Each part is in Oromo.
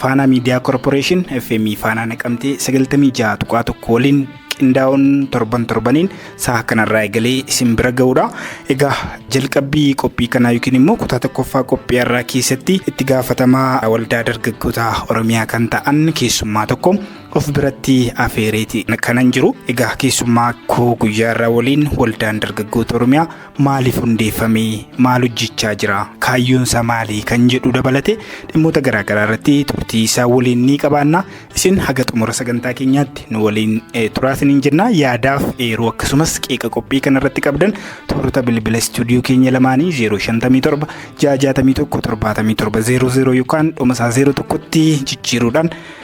Faanaa Miidiyaa Korporeeshin FM Faanaa Naqamtee 96.1 waliin qindaa'uun torban torbaniin sa'a kanarraa eegalee isin bira ga'uudha. Egaa jalqabbii qophii kanaa yookiin immoo kutaa tokkoffaa qophii har'aa keessatti itti gaafatamaa waldaa dargaggoota Oromiyaa kan ta'an keessummaa tokko of biratti afeereeti kanan jiru. Egaa keessummaa koo guyyaa irraa waliin waldaan dargaggoota Oromiyaa maaliif hundeeffame, maal hojjechaa jira, kaayyoonsaa maali kan jedhu dabalatee dhimmoota garaagaraa irratti turtii isaa waliin ni qabaanna. Isin haga xumura sagantaa keenyaatti nu waliin eh, turaa isiniin jenna. Yaadaaf eeruu akkasumas qeeqa qophii kanarratti qabdan toorota bilbila istuudiyoo keenya lamaanii 057 661 77 00 yookaan dhuma isaa 01tti jijjiiruudhaan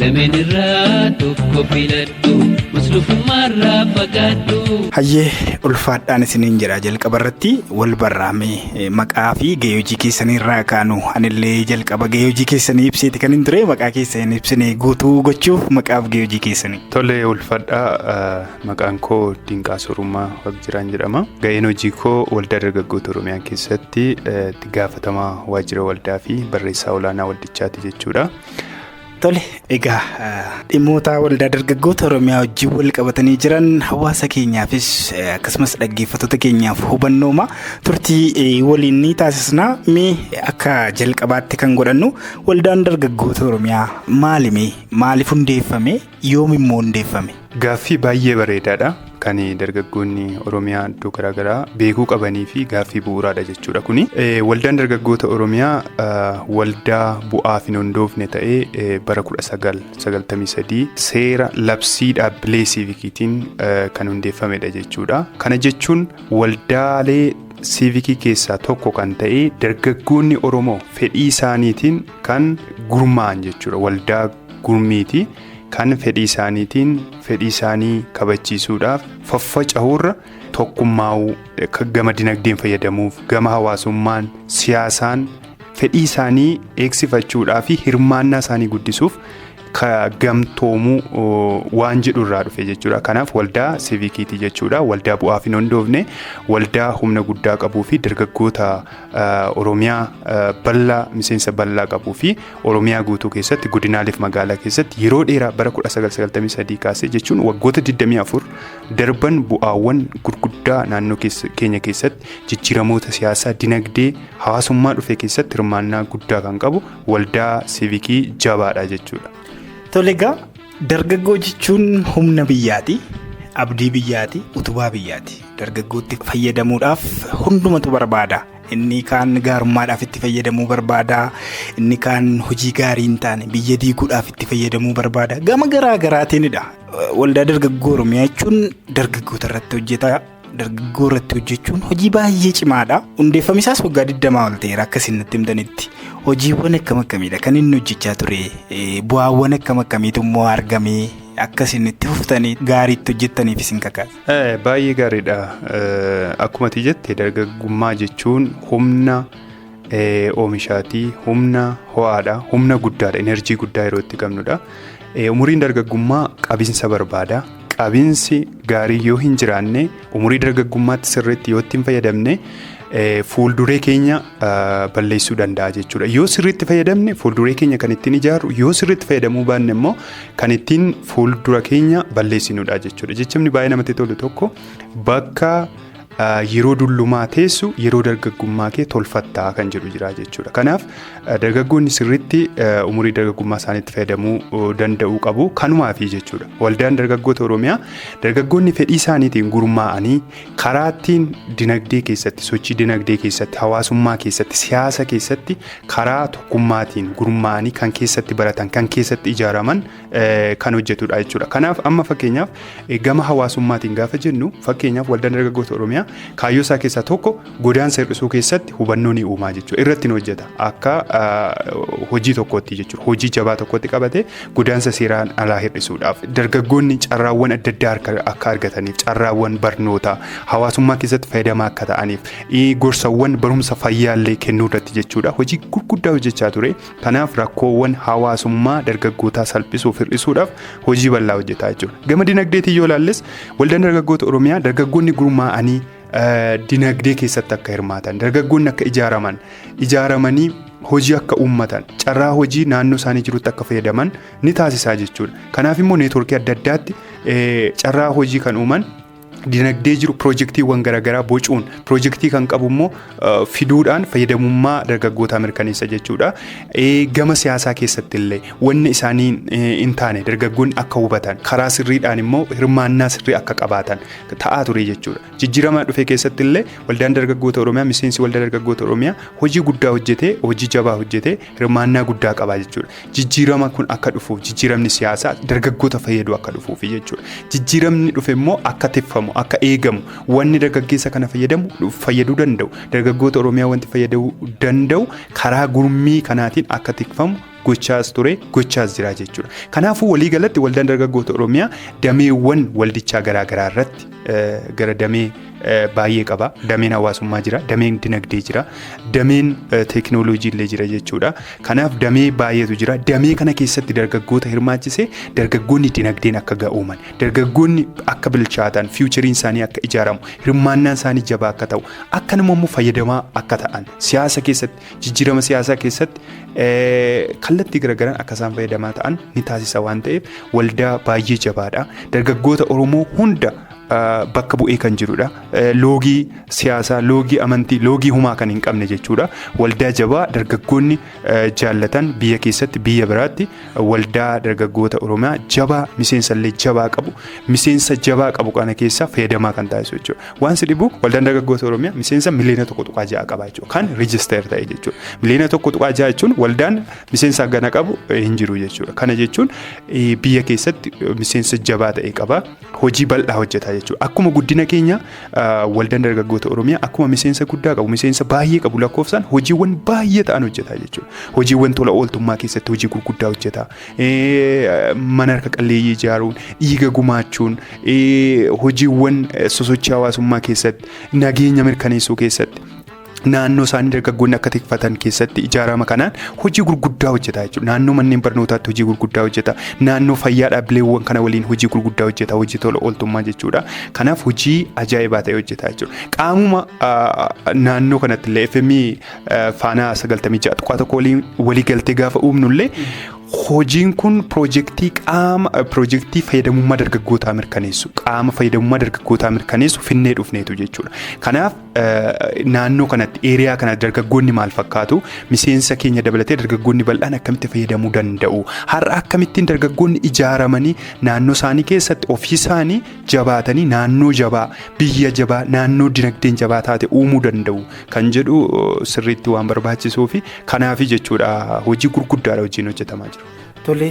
Lameen irraa tokko filadhu muslufummaarraa fagaadhu. Hayyee ulfaadhaan isiniin jedha jalqaba irratti wal barraame maqaa fi gahee hojii keessanii irraa kaanu anillee jalqaba gahee hojii keessanii ibseeti kan hin ture maqaa keessa hin ibsine guutuu gochuuf maqaaf gahee hojii keessanii. Tole ulfadhaa maqaan koo Dinqaa Sorummaa Waaqjiraan jedhama. Gaheen hojii koo waldaa dargaggoota Oromiyaa keessatti itti gaafatamaa waajjira waldaa fi barreessaa olaanaa waldichaati jechuudha. Tole egaa dhimmoota waldaa dargaggoota Oromiyaa wajjin wal qabatanii jiran hawaasa keenyaafis akkasumas dhaggeeffattoota keenyaaf hubannooma turtii waliin ni taasisna. Mee akka jalqabaatti kan godhannu waldaan dargaggoota Oromiyaa maalimi? Maaliif hundeeffame? Yoom immoo hundeeffame? Gaaffii baay'ee bareedaadha. Kan dargaggoonni Oromiyaa iddoo garaagaraa beekuu qabanii fi gaaffii bu'uuraadha jechuudha kuni. Waldaan dargaggoota Oromiyaa waldaa bu'aaf hin hundoofne ta'ee bara 1993 seera labsii dhaabbilee siivikiitiin kan hundeeffamedha jechuudha. Kana jechuun waldaalee siivikii keessaa tokko kan ta'e dargaggoonni Oromoo fedhii isaaniitiin kan gurmaa'an jechuudha waldaa gurmiiti kan fedhii isaaniitiin fedhii isaanii kabachiisuudhaaf faffaca'uurra tokkummaa'uu akka gama dinagdeen fayyadamuuf gama hawaasummaan siyaasaan fedhii isaanii eegsifachuudhaa fi hirmaannaa isaanii guddisuuf ka gamtoomuu waan jedhu irraa dhufe jechuudha. Kanaaf waldaa siivikiiti jechuudha. Waldaa bu'aaf hin hundoofne, waldaa humna guddaa qabuu fi dargaggoota Oromiyaa bal'aa miseensa bal'aa qabuu fi Oromiyaa guutuu keessatti godinaaleef magaalaa keessatti yeroo dheeraa bara 1993 kaasee jechuun waggoota 24 darban bu'aawwan gurguddaa naannoo keenya keessatti jijjiiramoota siyaasaa, dinagdee, hawaasummaa dhufe keessatti hirmaannaa guddaa kan qabu waldaa siivikii jabaadha jechuudha. Tole egaa dargaggoo jechuun humna biyyaati. Abdii biyyaati, utubaa biyyaati. Dargaggootti fayyadamuudhaaf hundumatu barbaada. Inni kaan gaarummaadhaaf itti fayyadamuu barbaada. Inni kaan hojii gaarii hin taane biyya diiguudhaaf itti fayyadamuu barbaada. Gama garaa garaatiinidha. Waldaa dargaggoo Oromiyaa jechuun dargaggoota irratti hojjeta. dargaggoo irratti hojjechuun hojii baay'ee cimaadha. Hundeeffamni isaas waggaa 20 ol ta'eera akka isin natti himtanitti. Hojiiwwan akkam akkamiidha kan inni hojjechaa ture? Eh, Bu'aawwan akkam akkamiitu immoo argame? Akka isin itti fuftanii gaariitti hojjettaniif isin kakaasa. Eh, Baay'ee gaariidha. Eh, Akkuma ati jette dargaggummaa jechuun humna oomishaati. Humna ho'aadha. Humna guddaadha. Enerjii guddaa yeroo itti qabnudha. Umuriin dargaggummaa qabinsa barbaada. Qabinsi gaarii yoo hin jiraanne umurii dargaggummaatti sirriitti yoo itti hin fayyadamne fuulduree keenya balleessuu danda'a jechuudha. Yoo sirriitti fayyadamne fuulduree keenya kan ittiin ijaarru yoo sirriitti fayyadamuu baanne immoo kan ittiin fuuldura keenya balleessinudha jechuudha. Jechamni baay'ee namatti tolu tokko bakka yeroo dullumaa teessu yeroo dargaggummaa kee tolfattaa kan jedhu jira jechuudha. Kanaaf dargaggoonni sirriitti umurii dargaggummaa isaaniitti fayyadamuu danda'uu qabu kanumaafi jechuudha. Waldaan dargaggoota Oromiyaa dargaggoonni fedhii isaaniitiin gurmaa'anii karaa ittiin dinagdee keessatti sochii dinagdee keessatti hawaasummaa keessatti siyaasa keessatti karaa tokkummaatiin gurmaa'anii kan keessatti baratan kan keessatti ijaaraman kan hojjetudha jechuudha. Kanaaf amma fakkeenyaaf gama hawaasummaatiin gaafa jennu fakkeenyaaf waldaan dargaggoota Oromiyaa kaayyoo isaa keessaa tokko godaansa hir'isuu keessatti hubannoo ni uumaa jechuudha. Irratti ni hojjeta akka hojii tokkootti jechuudha. Hojii jabaa tokkotti qabatee godaansa seeraan alaa hir'isuudhaaf dargaggoonni carraawwan adda addaa akka argataniif carraawwan barnootaa hawaasummaa keessatti fayyadamaa akka ta'aniif gorsawwan barumsa fayyaallee kennuu irratti jechuudha. Hojii gurguddaa hojjechaa ture. Kanaaf rakkoowwan hawaasummaa dargaggootaa salphisuuf hir'isuudhaaf hojii bal'aa hojjetaa jechuudha. Gama dinagdeetiin yoo ilaalles waldaan dargaggoota Oromiyaa dargaggoonni gurmaa'anii dinagdee keessatti akka hirmaatan dargaggoonni akka ijaaraman ijaaramanii hojii akka uummatan carraa hojii naannoo isaanii jirutti akka fayyadaman ni taasisaa jechuudha. Kanaaf immoo neetwoorkii adda addaatti carraa hojii kan uuman dinagdee jiru pirojektiiwwan garaagaraa bocuun pirojektii kan qabu immoo fiduudhaan fayyadamummaa dargaggootaa mirkaneessa jechuudha. Gama siyaasaa keessatti illee wanni isaanii hin taane dargaggoonni akka hubatan karaa sirriidhaan immoo hirmaannaa sirrii akka qabaatan ta'aa ture jechuudha. Jijjiirama dhufe keessatti illee waldaan dargaggoota Oromiyaa miseensi waldaa dargaggoota Oromiyaa hojii guddaa hojjetee hojii jabaa hojjetee hirmaannaa guddaa qabaa jechuudha. Jijjiirama kun akka dhufuuf jijjiiramni siyaasaa dargaggoota fayyadu akka dhufuuf jechuudha. Jijjiiramni dhufe immoo akka tiffamu akka eegamu wanni dargaggeessa kana fayyadamu fayyaduu danda'u dargaggoota Oromiyaa wanti fayyaduu danda'u karaa gurmii kanaatiin akka tikfamu gochaas ture gochaas jira jechuudha. Kanaafuu waliigalatti waldaan dargaggoota Oromiyaa dameewwan waldichaa garaagaraa irratti gara damee baay'ee qaba. Dameen hawaasummaa jira, dameen dinagdee jira, dameen teekinooloojii illee jira jechuudha. Kanaaf damee baay'eetu jira. Damee kana keessatti dargaggoota hirmaachise dargaggoonni dinagdeen akka ga'ooman, dargaggoonni akka bilchaatan, fiiwuchariin isaanii akka ijaaramu, hirmaannaan isaanii jabaa akka ta'u, akkanuma immoo fayyadamaa akka ta'an, siyaasa keessatti jijjiirama siyaasaa keessatti kallattii garaagaraan akka isaan fayyadamaa ta'an ni taasisa waan ta'eef waldaa baay'ee jabaadha. Dargaggoota Oromoo hunda bakka bu'ee kan jirudha. Loogii siyaasaa, loogii amantii, loogii humaa kan hin qabne jechuudha. Waldaa jabaa dargaggoonni jaallatan biyya keessatti biyya biraatti waldaa dargaggoota Oromiyaa jabaa miseensallee jabaa qabu miseensa jabaa qabu kana keessaa fayyadamaa kan taasisu jechuudha. Waan si dhibu waldaan dargaggoota Oromiyaa miseensa miliyoona tokko tuqaa ja'a qaba jechuudha. Kan rijisteer ta'e jechuudha. Miliyoona tokko tuqaa ja'a jechuun waldaan miseensa gana qabu hin jiru jechuudha. Kana jechuun biyya keessatti miseensa jabaa ta'e qaba. Hojii bal'aa hojjeta jechuudha. Akkuma guddina keenya waldaan dargaggoota Oromiyaa akkuma miseensa guddaa qabu miseensa baay'ee qabu lakkoofsaan hojiiwwan baay'ee ta'an hojjeta jechuudha. Hojiiwwan tola ooltummaa keessatti hojii gurguddaa hojjeta. mana harka qalleeyyii ijaaruun dhiiga gumaachuun hojiiwwan sosochii hawaasummaa keessatti nageenya mirkaneessuu keessatti naannoo isaanii dargaggoonni akka tikfatan keessatti ijaarama kanaan hojii gurguddaa hojjeta jechuudha. Naannoo manneen barnootaatti hojii gurguddaa hojjeta. Naannoo fayyaa dhaabbileewwan kana waliin hojii gurguddaa hojjeta. Hojii tola ooltummaa jechuudha. Kanaaf hojii ajaa'ibaa ta'e hojjeta jechuudha. Qaamuma naannoo kanatti illee FMI Faanaa 96.1 waliin waliigaltee gaafa uumnullee hojiin kun piroojeektii qaama piroojeektii fayyadamummaa dargaggootaa mirkaneessu qaama fayyadamummaa dargaggootaa mirkaneessu finnee dhufneetu jechuudha. Kanaaf naannoo kanatti eeriyaa kana dargaggoonni maal fakkaatu miseensa keenya dabalatee dargaggoonni bal'aan akkamitti fayyadamuu danda'u har'a akkamittiin dargaggoonni ijaaramanii naannoo isaanii keessatti ofii isaanii jabaatanii naannoo jabaa biyya jabaa naannoo dinagdeen jabaa taate uumuu danda'u. kan jedhu sirriitti waan barbaachisuu fi kanaafi jechuudha hojii gurguddaadha hojiin hojjetamaa jiru. Tole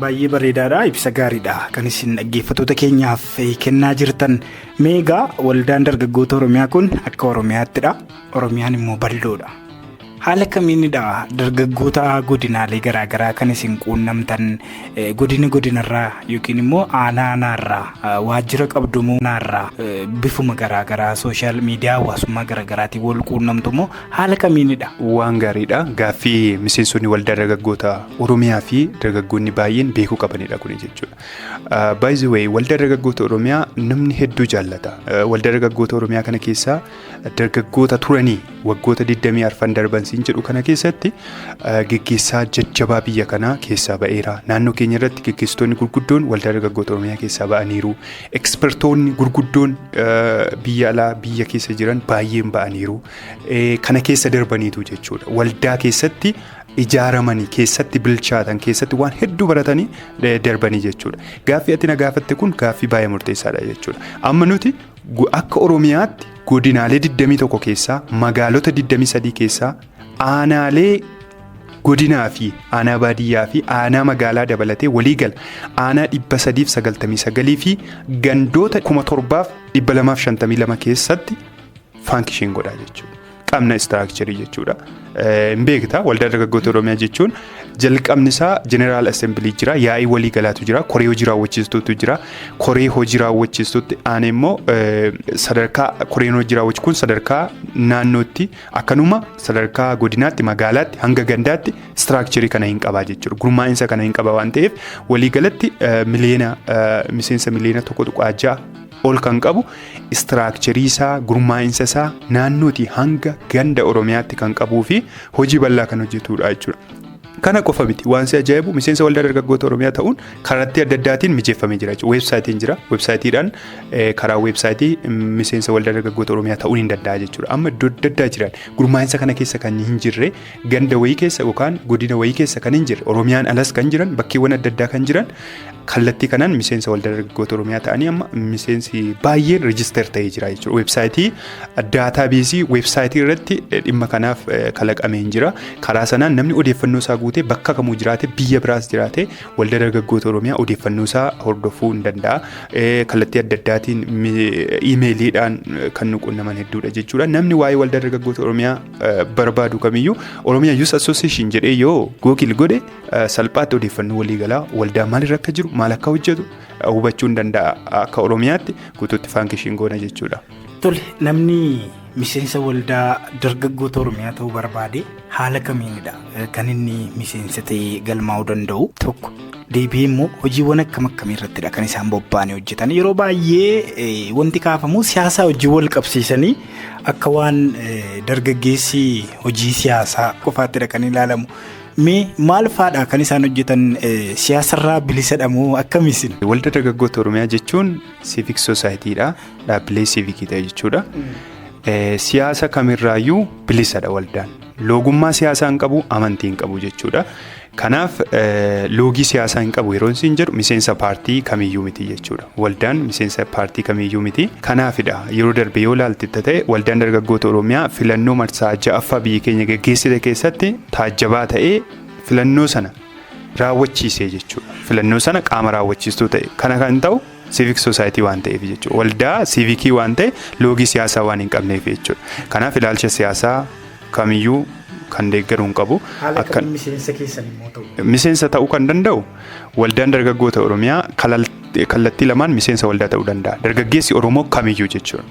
baay'ee bareedaadha ibsa gaariidha kan isin dhaggeeffattoota keenyaaf kennaa jirtan meegaa waldaan dargaggoota oromiyaa kun akka oromiyaattidha oromiyaan immoo bal'oodha haala kamiinidha dargaggoota godinaalee garaagaraa kan isin quunnamtan Godina godinarraa yookiin immoo aanaa aanaarraa waajjira qabdu moo naarraa bifuma garaagaraa sooshaal miidiyaa hawaasummaa garaagaraatiin wal quunnamtu moo haala kamiinidha? Waan gaariidha. Gaaffii miseensonni waldaa dargaggoota Oromiyaa fi dargaggoonni baay'een beekuu qabanidha kuni jechuudha. By the way, waldaa dargaggoota Oromiyaa namni hedduu jaallata. Waldaa dargaggoota Oromiyaa kana keessaa dargaggoota turanii waggoota 20 arfan darban siin jedhu kana keessatti geggeessaa jajjabaa biyya kanaa keessaa ba'eera. Naannoo keenya irratti geggeessitoonni gurguddoon waldaa dargaggoota Oromiyaa keessaa ba'aniiru. Ekspertoonni gurguddoon biyya alaa biyya keessa jiran baay'een ba'aniiru. Kana keessa darbaniitu jechuudha. Waldaa keessatti ijaaramanii keessatti bilchaatan keessatti waan hedduu baratanii darbanii jechuudha. Gaaffii ati na gaafatte kun gaaffii baay'ee murteessaadha jechuudha. Amma nuti Akka Oromiyaatti godinaalee 21 keessaa magaalota 23 keessaa aanaalee godinaa fi aanaa baadiyyaa fi aanaa magaalaa dabalatee walii gala aanaa 399 fi gandoota 7252 keessatti faankishin godhaa jechuudha. qabna istiraakcharii jechuudha. Hin beekta waldaan dargaggoota Oromiyaa jechuun jalqabni isaa jeneraal assembilii jira yaa'ii walii galaatu jira koree hojii raawwachiistuutu jira koree hojii raawwachiistuutti aanee immoo sadarkaa koreen hojii raawwachiistu kun sadarkaa naannootti akkanuma sadarkaa godinaatti magaalaatti hanga gandaatti istiraakcharii kana hin qabaa jechuudha gurmaa'insa kana hin qaba waan ta'eef walii galatti miliyoona miseensa miliyoona tokko tuqaa ja'a ol kan qabu istiraakcherii isaa, gurmaa'insa isaa naannootii hanga ganda Oromiyaatti kan qabuu fi hojii bal'aa kan hojjetudha jechuudha. Kana qofa miti waan si ajaa'ibu miseensa waldaa dargaggoota Oromiyaa ta'uun kallattii adda addaatiin mijeeffamee jira jechuudha. Weebsaayitiin jira. Weebsaayitiidhaan eh, karaa weebsaayitii mm, miseensa waldaa dargaggoota Oromiyaa ta'uun hin danda'a jechuudha. Amma iddoo adda addaa jiran gurmaa'insa kana keessa kan hin jirre ganda wayii keessa yookaan godina wayii keessa kan hin jirre Oromiyaan alas kan jiran bakkeewwan adda addaa kan jiran kallattii kanaan miseensa waldaa dargaggoota Oromiyaa ta'anii amma miseensi baay'een reejister ta'ee jira jechuudha. Weebsaayitii daataa beesii weebsaayitii irratti dhimma kanaaf kalaqamee hin jira. Karaa sanaan namni odeeffannoo isaa guutee bakka kamuu jiraate biyya biraas jiraate waldaa dargaggoota Oromiyaa odeeffannoo isaa hordofuu hin danda'a. Kallattii adda addaatiin iimeeliidhaan kan nu qunnaman hedduudha jechuudha. Namni waa'ee waldaa dargaggoota Oromiyaa barbaadu kamiyyuu Oromiyaa Youth Association jedhee yoo Google godhe salphaatti odeeffannoo waliigalaa waldaa maalirra akka jiru maal akka hojjetu hubachuu ni danda'a akka Oromiyaatti guutuutti faankishiin goona jechuudha. Tole namni miseensa waldaa dargaggoota Oromiyaa ta'uu barbaade haala kamiinidha kan inni miseensa ta'ee galmaa'uu danda'u tokko deebi'ee immoo hojiiwwan akkam akkamii irrattidha kan isaan bobba'anii hojjetan yeroo baay'ee wanti kaafamu siyaasaa hojii wal qabsiisanii Akka waan dargaggeessi hojii siyaasaa qofaatti dhaqanii ilaalamu. Mee maal faadha kan isaan hojjetan siyaasarraa bilisadha moo akkamisin? Waldaa Dargaggoota Oromiyaa jechuun siivik soosaayitiidha. Dhaabbilee siivikii ta'e jechuudha. Siyaasa kamirraayyuu bilisadha waldaan. Loogummaa siyaasaa hin qabu, amantii hin qabu jechuudha. Kanaaf loogii siyaasaa hin qabu yeroon siin jedhu miseensa paartii kamiyyuu miti jechuudha. Waldaan miseensa paartii kamiyyuu miti. Kanaafidha yeroo darbe yoo ilaalte ta'e waldaan dargaggoota Oromiyaa filannoo marsaa ja'affaa biyyi keenya geggeessite keessatti taajjabaa ta'ee filannoo sana raawwachiise jechuudha. Filannoo sana qaama raawwachiistuu ta'e. Kana kan ta'u Civic Society waan ta'eef jechuudha. Waldaa siivikii waan ta'e loogii siyaasaa waan hin qabneef jechuudha. Kanaaf ilaalcha siyaasaa kamiyyuu kan deeggaru hin qabu. Haala Akka- kamiin miseensa keessan immoo ta'u? miseensa ta'uu kan danda'u waldaan dargaggoota oromiyaa kalal- kallattii lamaan miseensa waldaa ta'uu danda'a dargaggeessi oromoo kamiyyuu jechuudha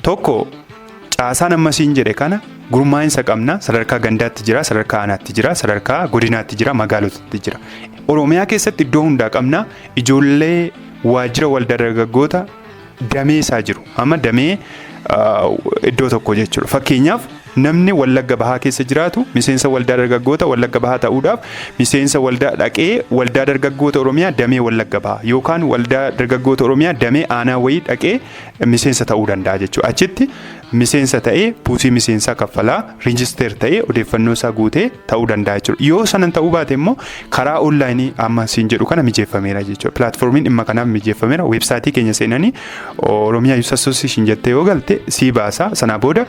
tokko Caasaan amma siin jedhe kana gurmaa'insa qabna sadarkaa gandaatti jira sadarkaa aanaatti jira sadarkaa godinaatti jira magaalotatti jira oromiyaa keessatti iddoo hundaa qabna ijoollee waajjira waldaa dargaggoota damee isaa jiru amma damee iddoo tokko jechuudha fakkeenyaaf namni wallagga bahaa keessa jiraatu miseensa waldaa dargaggoota wallagga bahaa ta'uudhaaf miseensa waldaa dhaqee waldaa dargaggoota oromiyaa damee wallagga bahaa yookaan waldaa dargaggoota oromiyaa damee aanaa wayii dhaqee miseensa ta'uu danda'a jechuudha. Achitti miseensa ta'ee buusii miseensaa kaffalaa riijisteer ta'ee odeeffannoo isaa guutee ta'uu danda'a jechuudha. Yoo sanan ta'uu baate immoo karaa onlaayinii amma siin jedhu kana mijeeffameera jechuudha. Pilaatfoormiin dhimma kanaaf mijeeffameera. Weebsaayitii keenya seenanii Oromiyaa Yuus Asooseeshin jettee yoo galte sii baasa. Sanaa booda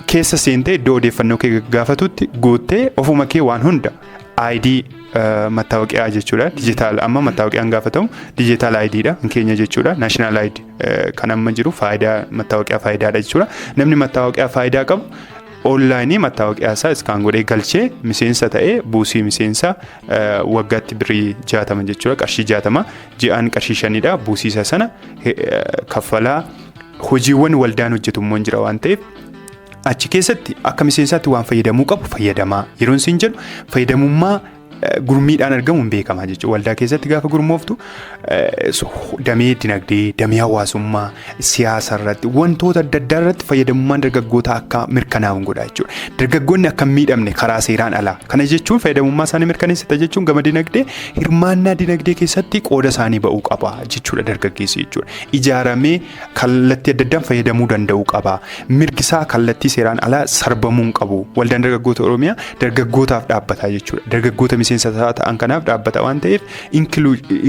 keessa seentee iddoo odeeffannoo kee gaafatutti guuttee ofuma kee waan hunda ID mattaawoqiyaa jechuudha. Dijitaal amma mattaawoqiyaan gaafatamu dijitaal ID dha kan keenya jechuudha. National ID kan amma jiru faayidaa mattaawoqiyaa faayidaadha jechuudha. Namni mattaawoqiyaa faayidaa qabu onlaayinii mattaawoqiyaa isaa iskaan godhee galchee miseensa ta'ee buusii miseensa waggaatti birrii jaatama jechuudha. Qarshii jaatama ji'aan qarshii shanidha. Buusiisa sana kaffalaa hojiiwwan waldaan hojjetu immoo jira waan ta'eef Achi keessatti akka miseensaatti waan fayyadamuu qabu fayyadamaa. Yeroon siin jedhu fayyadamummaa eh, gurmiidhaan argamu hin beekamaa jechuudha. Waldaa keessatti gaafa gurmooftu eh, so- damee dinagdee, damee hawaasummaa, siyaasa irratti wantoota adda addaa irratti fayyadamummaan dargaggootaa akka mirkanaa'u hin godha jechuudha. Dargaggoonni akka hin miidhamne karaa seeraan alaa. Kana jechuun fayyadamummaa isaanii mirkaneessita jechuun gama dinagdee hirmaannaa dinagdee keessatti qooda isaanii ba'uu qaba jechuudha dargaggeessi jechuudha. Ijaaramee kallattii adda addaan fayyadamuu danda'uu qaba. Mirgi isaa kallattii seeraan alaa sarbamuu hin qabu. Waldaan dargaggoota Oromiyaa dargaggootaaf dhaabbata jechuudha. Dargaggoota miseensa isaa ta'an kanaaf dhaabbata waan ta'eef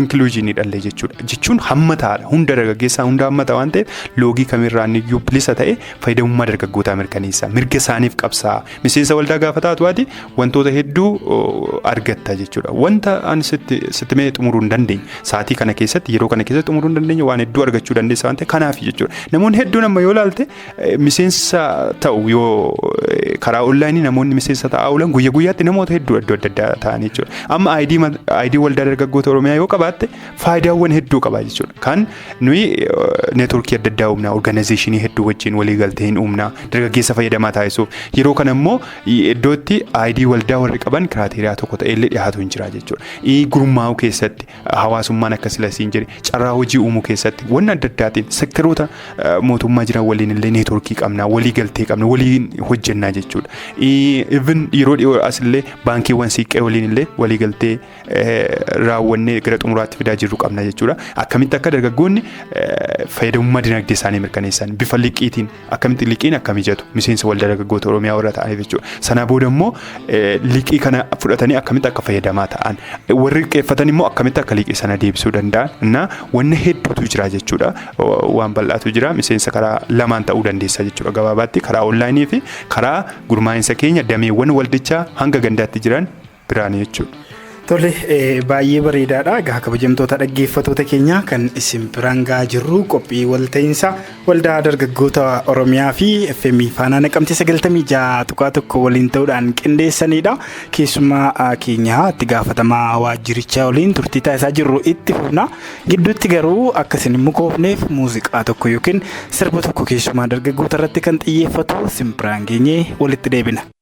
inkluujiinii dhallee jechuudha. Jechuun hammataadha. Hunda dargaggeessaa hunda hammata waan ta'eef loogii kamirraan iyyuu bilisa ta'e fayyadamummaa dargaggootaa mirkaneessa. Mirga isaaniif qabsaa. Miseensa waldaa gaafa taatu ati wantoota hedduu argatta jechuudha. Wanta ani sitti sitti mee xumuruu hin dandeenye sa'aatii kana keessatti yeroo kana keessatti xumuruu hin dandeenye waan hedduu argachuu dandeessa waan ta'eef kanaaf jechuudha. Namoonni hedduun amma yoo ilaalte miseensa ta'u yoo karaa onlaayinii namoonni miseensa ta'aa oolan guyya guyyaatti namoota hedduu iddoo adda addaa ta'an jechuudha. Amma aayidii waldaa dargaggoota Oromiyaa yoo qabaatte faayidaawwan hedduu qaba jechuudha. Kan nuyi neetworkii adda addaa uumna, orgaanayizeeshinii hedduu wajjin walii galtee hin uumna, dargaggeessa fayyadamaa taasisuuf yeroo kana immoo I. Iddootti ID waldaa warri qaban kiraateeriyaa tokko ta'ellee dhihaatu hin jira jechuudha. I. Gurmaa'uu keessatti hawaasummaan akka sila siin jedhe carraa hojii uumuu keessatti wanna adda addaatiin sekteroota mootummaa jiran waliin illee neetworkii qabna walii galtee qabna waliin hojjennaa jechuudha. Even yeroo dhiyoo asillee baankiiwwan siiqqee waliin illee walii galtee raawwannee gara xumuraatti fidaa jirru qabna jechuudha. Akkamitti akka dargaggoonni fayyadamummaa dinagdee isaanii mirkaneessan bifa liqiitiin akkamitti liqiin akka mijatu miseensa waldaa dargaggoota Oromiyaa warra ta'aniif jechuudha. Sana booda immoo liqii kana fudhatanii akkamitti akka fayyadamaa ta'an warri qeeffatan immoo akkamitti akka liqii sana deebisuu danda'an na wanna hedduutu jira jechuudha. Waan bal'aatu jira miseensa karaa lamaan ta'uu dandeessa jechuudha gabaabaatti karaa onlaayinii fi karaa gurmaa'insa keenya dameewwan waldichaa hanga gandaatti jiran biraani jechuudha. Tole baay'ee bareedaadha. Egaa kabajamtoota dhaggeeffatoota keenyaa kan isin biraan gahaa jirru qophii walta'iinsa waldaa dargaggoota Oromiyaa fi FM Faanaa Naqamtee 96.1 waliin ta'uudhaan qindeessanidha. Keessumaa keenya itti gaafatamaa waajjirichaa waliin turtii taasisaa jirru itti fufna. Gidduutti garuu akka isin hin mukoofneef muuziqaa tokko yookiin sirba tokko keessumaa dargaggoota irratti kan xiyyeeffatu isin biraan geenyee walitti deebina.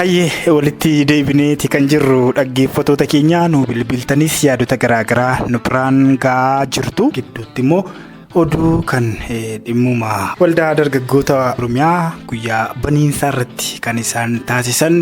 Hayyee walitti deebineeti kan jirru dhaggeeffatoota keenya nu bilbiltanis yaadota garaagaraa nu biraan ga'aa jirtu gidduutti immoo oduu kan dhimmuma waldaa dargaggoota oromiyaa guyyaa baniinsaa irratti kan isaan taasisan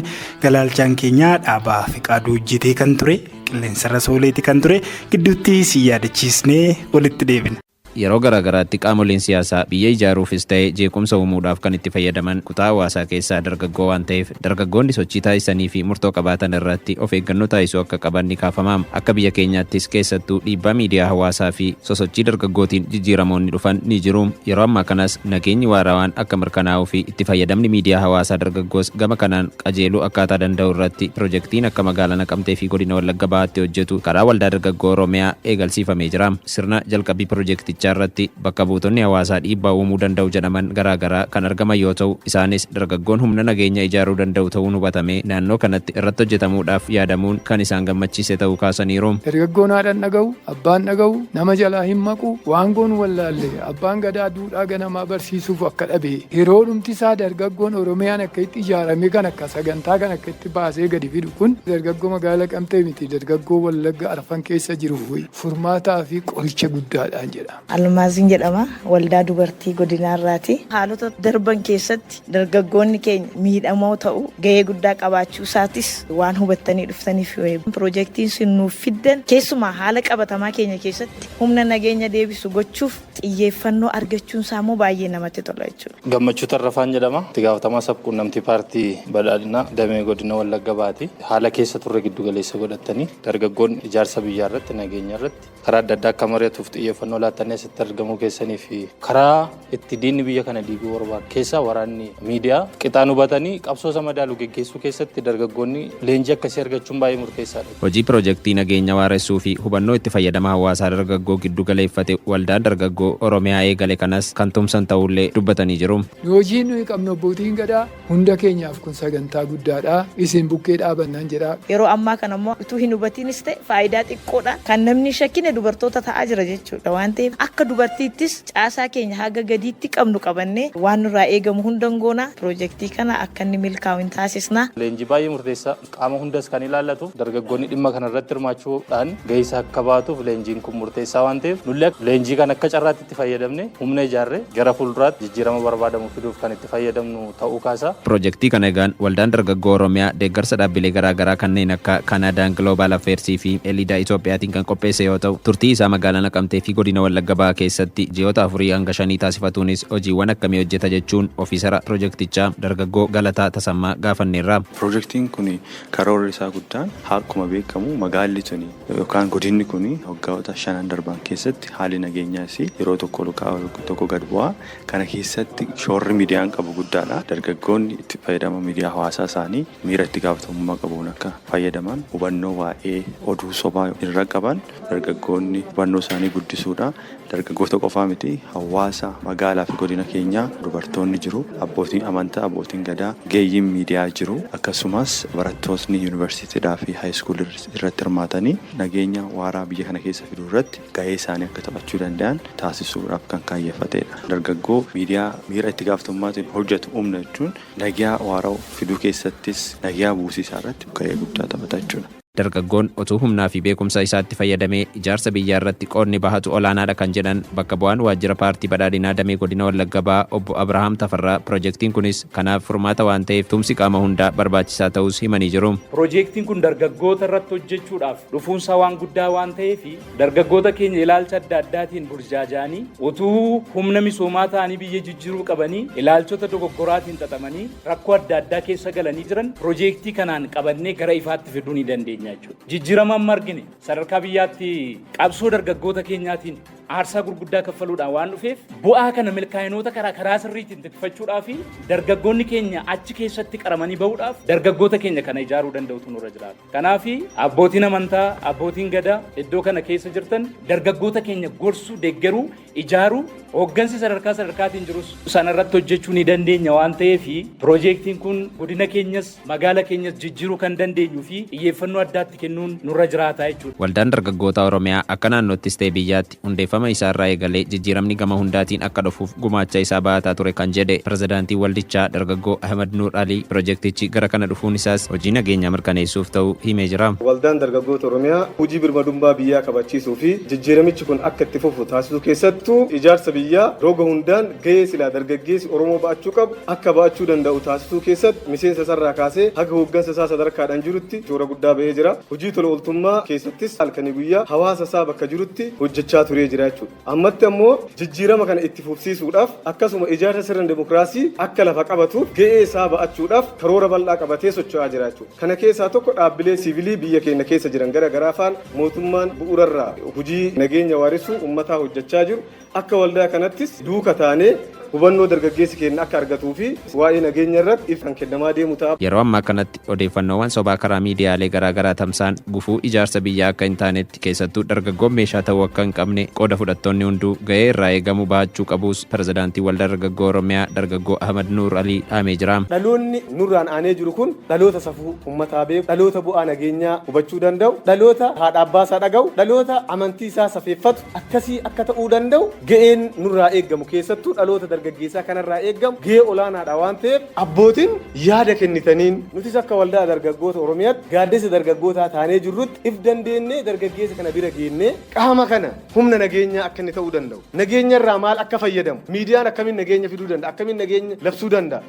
galaalchaan keenya dhaabaa fiqaaduu hojjetee kan ture qilleensarra sooleeti kan ture gidduutti si yaadachiisnee walitti deebina. Yeroo garaagaraatti qaamoleen siyaasaa biyya ijaaruufis ta'e jeequmsa uumuudhaaf kan itti fayyadaman kutaa hawaasaa keessaa dargaggoo waan ta'eef dargaggoonni sochii taasisaniifi murtoo qabaatan irratti of eeggannoo taasisuu akka qaban ni kaafama. Akka biyya keenyaattis keessattuu dhiibbaa miidiyaa hawaasaafi sosochii dargaggootiin jijjiiramoonni dhufan ni jiru. Yeroo ammaa kanas nageenyi waarawaan akka mirkanaa'uufi itti fayyadamni miidiyaa hawaasaa dargaggoos gama kanaan qajeeluu akkaataa danda'u irratti pirojektiin akka Magaalaa Naqamteefi Godina Wallagga Bahaatti hojjetu karaa Waldaa Dargaggoo Oromiyaa eegalsiifamee jira. Sirna jalqabbii pirojektichaa irratti bakka buutonni hawaasaa dhiibbaa uumuu danda'u jedhaman garaa garaa kan argaman yoo ta'u, isaanis dargaggoon humna nageenya ijaaruu danda'u ta'uun hubatamee naannoo kanatti irratti hojjetamuudhaaf yaadamuun kan isaan gammachiise ta'uu kaasaniiru. Dargaggoon haadhan dhaga'u, abbaan dhaga'u, nama jalaa hin maqu, waan goonu wallaalle, abbaan gadaa duudhaa ganamaa barsiisuuf akka dhabe, yeroodhumti isaa dargaggoon Oromiyaan akka itti ijaarame kana akka sagantaa kana akka itti baasee gadi fidu kun dargaggoo magaala Naqamtee miti dargaggoo Wallagga arfan keessa jiruufi. furmaataa fi qoricha guddaadha jedha. Almaaziin jedhama. Waldaa Dubartii Godinaarraati. Haalota darban keessatti dargaggoonni keenya miidhamoo ta'uu, gahee guddaa qabaachuusaatis waan hubattanii dhuftaniif pirojektiin isin nuuf fiddan keessumaa haala qabatamaa keenya keessatti humna nageenya deebisu gochuuf xiyyeeffannoo argachuun isaa immoo baay'ee namatti tola jechuudha. Gammachuu Tarrafaan jedhama. Itti gaafatamaa sabquunnamtii paartii Badhaadhinaa damee godina Wallagga Bahaati. Haala keessa turre giddu galeessa godhattanii dargaggoon ijaarsa biyyaa irratti, nageenya irratti karaa adda addaa akka mari'atuuf xiyyeeffannoo laattanii asitti argamuu keessanii fi karaa itti diinni biyya kana diiguu barbaadu keessaa waraanni miidiyaa qixaan hubatanii qabsoo isa madaalu geggeessuu keessatti dargaggoonni leenjii akkasii argachuun baay'ee murteessaadha. Hojii Pirojektii Nageenya Waaressuu fi Hubannoo Itti Fayyadama Hawaasaa Dargaggoo Giddu Galeeffate Waldaan Dargaggoo Oromiyaa eegale kanas kan tumsan ta'uullee dubbatanii jiru. Hojiin nuyi qabnu Abbootiin Gadaa hunda keenyaaf kun sagantaa guddaadha. Isin bukkee dhaabannaan jedha. Yeroo ammaa kana immoo utuu hin hubatiinis ta'e faayidaa xiqqoodhaan kan namni hin shakkine dubartoota ta'aa jira jechuudha. Waan ta'eef akka dubartiittis caasaa keenya haga gadiitti qabnu qabannee waan nurraa eegamu hunda hin goona. Pirojektii kana akka inni milkaa'u hin taasisna. Leenjii baay'ee murteessaa. Qaama hundas kan ilaallatuuf dargaggoonni dhimma kana irratti hirmaachuu dhaan gahee isaa akka bahatuuf leenjiin kun murteessaa waan ta'eef nullee akka leenjii kana akka carraatti itti fayyadamnee humna ijaarree gara fuulduraatti jijjiirama barbaadamu fiduuf kan itti fayyadamnu ta'uu kaasaa. Pirojektii kana egaan Waldaan Dargaggoo Oromiyaa deeggarsa dhaabbilee garaa garaa kanneen akka Canadaan Global Affairs fi Elida Itoophiyaatiin kan qopheesse yoo ta'u turtii isaa magaalaa Naqamtee fi Godina Wallagga Bahaa keessatti ji'oota afurii hanga shanii taasifatuunis hojiiwwan akkamii hojjeta jechuun ofiisara pirojektichaa dargaggoo Galataa Tasammaa gaafanneerra. Pirojektiin kun karoorri isaa guddaan harkuma beekamu magaalli tuni yookaan godinni kun waggaota shanan darban keessatti haalli nageenyaa isii yeroo tokko ol ka'aa yeroo tokko gad bu'aa kana keessatti shoorri midiyaan qabu guddaadha. Dargaggoonni itti fayyadama midiyaa hawaasaa isaanii miira itti gaafatamummaa qabuun akka fayyadaman hubannoo waa'ee oduu sobaa irra qaban Dargaggoonni hubannoo isaanii guddisuudha. Dargaggoota qofaa miti hawaasa magaalaa fi godina keenyaa dubartoonni jiru, abbootiin amantaa, abbootiin gadaa, ogeeyyiin miidiyaa jiru. Akkasumas barattootni yuunivarsiitiidhaa fi haayiskuulii irratti hirmaatanii nageenya waaraa biyya kana keessa fiduu irratti gahee isaanii akka taphachuu danda'an taasisuudhaaf kan kaayyeffateedha. Dargaggoo miidiyaa miira itti gaafatamummaatiin hojjetu uumna jechuun nageyaa waarawu fiduu keessattis nageyaa buusii isaa irratti gahee guddaa taphata jechuudha. Dargaggoon utuu humnaa fi beekumsa isaatti fayyadamee ijaarsa biyyaa irratti qoodni bahatu olaanaadha kan jedhan bakka bu'aan waajjira paartii badhaadhinaa damee godina Wallagga Bahaa obbo Abrahaam Tafarraa pirojektiin kunis kanaaf furmaata waan ta'eef tumsi qaama hundaa barbaachisaa ta'uus himanii jiru. Pirojektiin kun dargaggoota irratti hojjechuudhaaf dhufuunsaa waan guddaa waan ta'eef Dargaggoota keenya ilaalcha adda addaatiin burjaaja'anii utuu humna misoomaa ta'anii biyya jijjiruu qabanii ilaalchota dogoggoraatiin xaxamanii rakkoo adda addaa keessa galanii jiran pirojeektii kanaan qabannee gara ifaatti fiduu ni dandeenya jechuudha. Jijjirama amma argine sadarkaa biyyaatti qabsoo dargaggoota keenyaatiin aarsaa gurguddaa kaffaluudhaan waan dhufeef bu'aa kana milkaa'inoota karaa karaa sirriitiin tikfachuudhaa fi dargaggoonni keenya achi keessatti qaramanii bahuudhaaf dargaggoota keenya kana ijaaruu danda'utu nurra jiraata. Kanaaf abbootiin amantaa, abbootiin gadaa iddoo kana keessa jirtan dargaggoota keenya gorsuu, deeggaruu, ijaaruu, hooggansi sadarkaa sadarkaatiin jirus sanarratti hojjechuu ni dandeenya waan ta'eef piroojeektiin kun godina keenyas magaala keenyas jijjiiruu kan dandeenyuu fi xiyyeeffannoo addaatti kennuun nurra jiraataa jechuudha. Waldaan Dargaggootaa Oromiyaa akka naannoottis ta'e biyyaatti Hundeeffama isaarraa eegalee jijjiiramni gama hundaatiin akka dhufuuf gumaacha isaa bahataa ture kan jedhe Pirezidaantiin waldichaa Dargaggoo Ahimad Nuur Alii, pirojektichi gara kana dhufuun isaas hojii nageenyaa mirkaneessuuf ta'uu himee jira. Waldaan Dargaggoota Oromiyaa hojii birmadummaa biyyaa kabachiisuu fi jijjiiramichi kun akka itti fufu taasisuu keessattuu ijaarsa biyyaa roga hundaan gahee silaa dargaggeessi Oromoo ba'achuu qabu akka ba'achuu danda'u taasisuu keessatti miseensa isaarraa kaasee haga hooggansa isaa sadarkaadhaan jirutti shoora guddaa ba'ee jira. Hojii tola ooltummaa keessattis halkanii guyyaa hawaasa isaa bakka jirutti hojjechaa turee jira jechuudha. Ammatti ammoo jijjiirama kana itti fufsiisuudhaaf akkasuma ijaarsa sirna demokraasii akka lafa qabatuuf ga'ee isaa ba'achuudhaaf karoora bal'aa qabatee socho'aa jira jechuudha. Kana keessaa tokko dhaabbilee siivilii biyya keenya keessa jiran gara garaa faana mootummaan bu'uurarraa hojii nageenya waarisuu ummataa hojjechaa jiru Akka waldaa kanattis duuka taanee hubannoo dargaggeessi keenna akka argatuu fi waa'ee nageenya irratti ibsi kan kennamaa deemu ta'a. Yeroo ammaa kanatti odeeffannoowwan sobaa karaa miidiyaalee garaa garaa tamsa'an gufuu ijaarsa biyyaa akka hin taanetti keessattuu dargaggoon meeshaa ta'uu akka hin qabne qooda fudhattoonni hunduu ga'ee irraa eegamu bahachuu qabuus Pirezidaantiin Waldaa Dargaggoo Oromiyaa Dargaggoo Ahmad Nuur Alii dhaamee jira. Dhaloonni nurraan aanee jiru kun dhaloota safuu ummataa beeku, dhaloota bu'aa nageenyaa hubachuu danda'u, dhaloota haadha abbaa isaa dhaga'u, dhaloota amantii isaa safeeffatu, akkasii akka ta'uu danda'u ga'een nurraa eeggamu keessattuu dhaloota dargaggeessaa kanarraa eeggamu ga'ee olaanaadha waan ta'eef abbootiin yaada kennitaniin nutis akka waldaa dargaggoota Oromiyaatti gaaddisa dargaggootaa taanee jirrutti if dandeennee dargaggeessa kana bira geennee qaama kana humna nageenyaa akka inni ta'uu danda'u nageenyarraa maal akka fayyadamu miidiyaan akkamiin nageenya fiduu danda'a akkamiin nageenya labsuu danda'a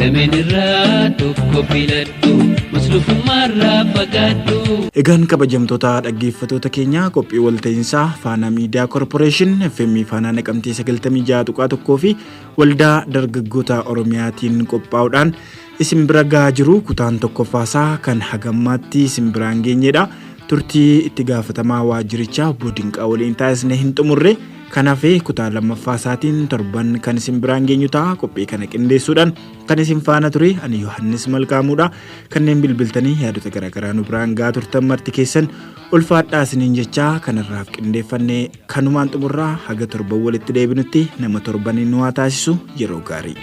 Lameen irraa tokko filadhu muslufummaa irraa fagaadhu. Egaan kabajamtoota dhaggeeffatoota keenya qophii walta'iinsaa Faanaa Miidiyaa Korporeeshin FM Faanaa Naqamtee 96.1 fi Waldaa Dargaggoota Oromiyaatiin qophaa'uudhaan isin bira gahaa jiru kutaan tokkoffaasaa kan hagammaatti isin biraan geenyedha. Turtii itti gaafatamaa waajjirichaa obbo Dinqaa waliin taasisne hin xumurre. Kan hafe kutaa lammaffaa isaatiin torban kan isin biraan geenyu ta'a. Qophii kana qindeessuudhaan kan isin faana ture ani Yohaannis Malkaamuudha. Kanneen bilbiltanii yaadota garaagaraa nu biraan gaa turtan marti keessan ulfaadhaa isiniin jechaa kanarraaf qindeeffanne kanumaan xumurraa haga torban walitti deebinutti nama torbanii nu haa taasisu yeroo gaarii.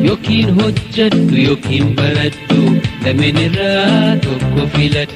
Yookiin hojjedhu yookiin baradhu lameen irraa tokko filadhu.